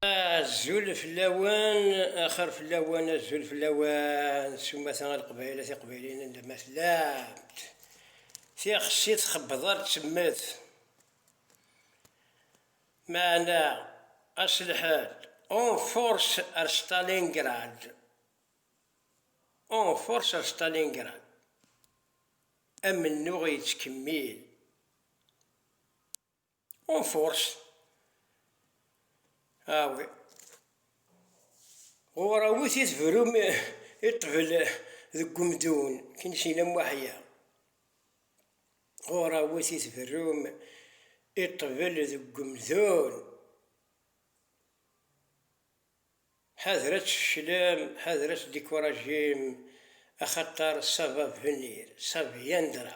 Azul fell-awen, axir fell-awen, azul fell-awen, s umata a Leqbayel, a Tiqbayliyin anda ma tellamt. Tixsi txebbed ar d-temmet. Meɛna ass lḥal, en force ar Stalingrad, en force ar Stalingrad, amennuɣ yettkemmil. Ur forced. Awi. Ɣur awit i tebrum i ṭbel deg umdun, kin sin am waḥya. Ɣur awit i tebrum i ṭbel deg umdun. Ḥader ad tfeclem, ḥader ad tdikurajem, axaṭer ça va venir, ça viendra.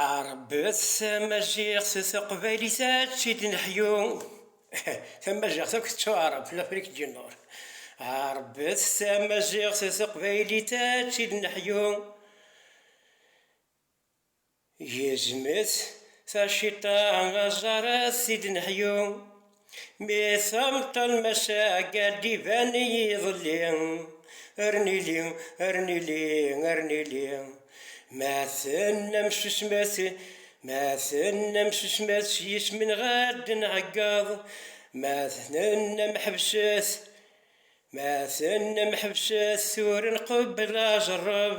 Ɛeṛbet tamaziɣt d teqbaylit ad tid neḥyu Tamaziɣt akk tettuɛṛeb f Lafrique du Nord Ɛeṛbet tamaziɣt d teqbaylit ad tid neḥyu Gezmet taciṭa aẓar ad tid neḥyu. Mi tamtal massa agad iban yiḍelli Ar nili, ar nili, ar nili Ma tennam susmet, ma tennam susmet S yisem-nneɣ ad d-nɛeggeḍ Ma tennam ḥebset, ma tennam ḥebset Tura nqebbel aẓerreb.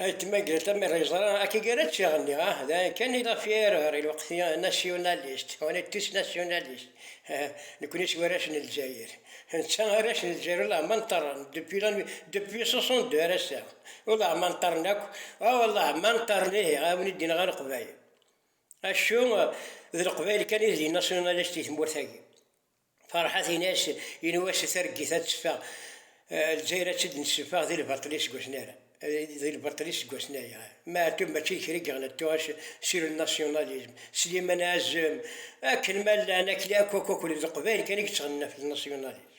Ayetma Greta mi ara yeẓra akka gar ačiɣ-nni, ah, d ayen kan i ɣef i ara ɣer i lweqt i nasyunalist, on est tous nationalistes, ah, nekkni seg warrac n Lezzayer, netta arrac n Lezzayer uleɣman ṭṭerren depuis la nuit, depuis 62 ar ass-a, uleɣman ṭṭerren akk, ah, uleɣman ṭṭerren ihi a wen-id-inɣa Leqbayel, acu, d Leqbayel kan i d inasyunalist i tmurt-agi. Ferḥat in-as i Nwasi targit ad teffeɣ Lezzayer ad tt-id-nesseffeɣ di lbaṭel iseggasen ara di lbaṭel iseggasen aya Meɛtub mačči d kra i yeɣlan tuɣac sur le nationalisme Slimane Azem akken ma llan akli akk akk akk d leqbayel kan i yettɣennan ɣef le nationalisme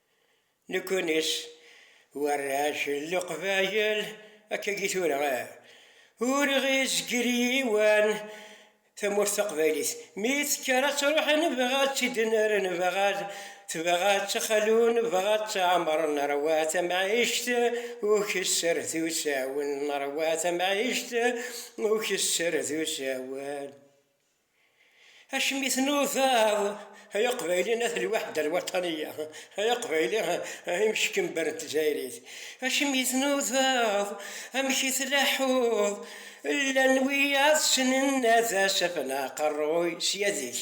Nekkuniṣ warrac n leqbayel akkagi tura ah, ur ɣ-izgir yiwan tamurt taqbaylit mi tekker ad truḥ nebɣa ad tt-id-nerr nebɣa ad tebɣa ad tt-xlu nebɣa ad tt-ɛemr nerwa tamɛict ukesser d usawen nerwa tamɛict ukesser d usawen. Acimi tnudaḍ ay aqbayli at lwaḥda alwaṭaniya, ay aqbayli imcekember n tdzayrit, acimi tnudaḍ, amek i tlaḥuḍ, llan wiyaḍ ssnen ad as-afen aqerruy sya dik.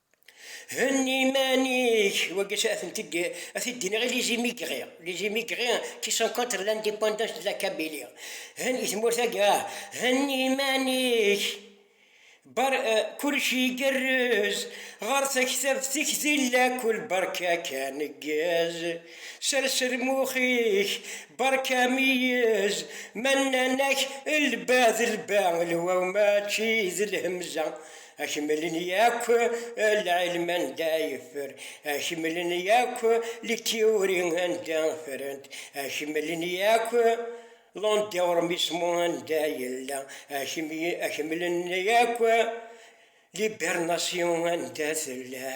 Henni iman-ik, wagi a tent-id a t-id-iniɣ i Les Immigrés, les immigrés qui sont contre l'indépendance de la Kabylie, hen i tmurt-agi ah, henni iman-ik, bar kullec igerrez, ɣer taktabt-ik di llakul berka kan ggez, sers lmux-ik, berka meyyez, ma nnan-ak lba d lba, lwaw mačči d lhemza. Akemmel n yakk lɛilm anda yeffer, akemmel n yakk litiyuri anda ffrent, akemmel n yakk l'endeormismo anda yella, akemmel n yakk l'hibernation anda tella.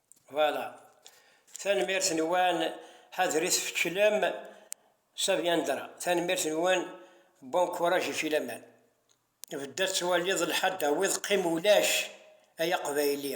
Voilà. Tanemmirt-nwen Hadrit Feclem Saviandra. Tanemmirt-nwen Bon courage i Filaman. Bedda tettwaliḍ lḥadda wiḍ qim ulac ay aqbayli.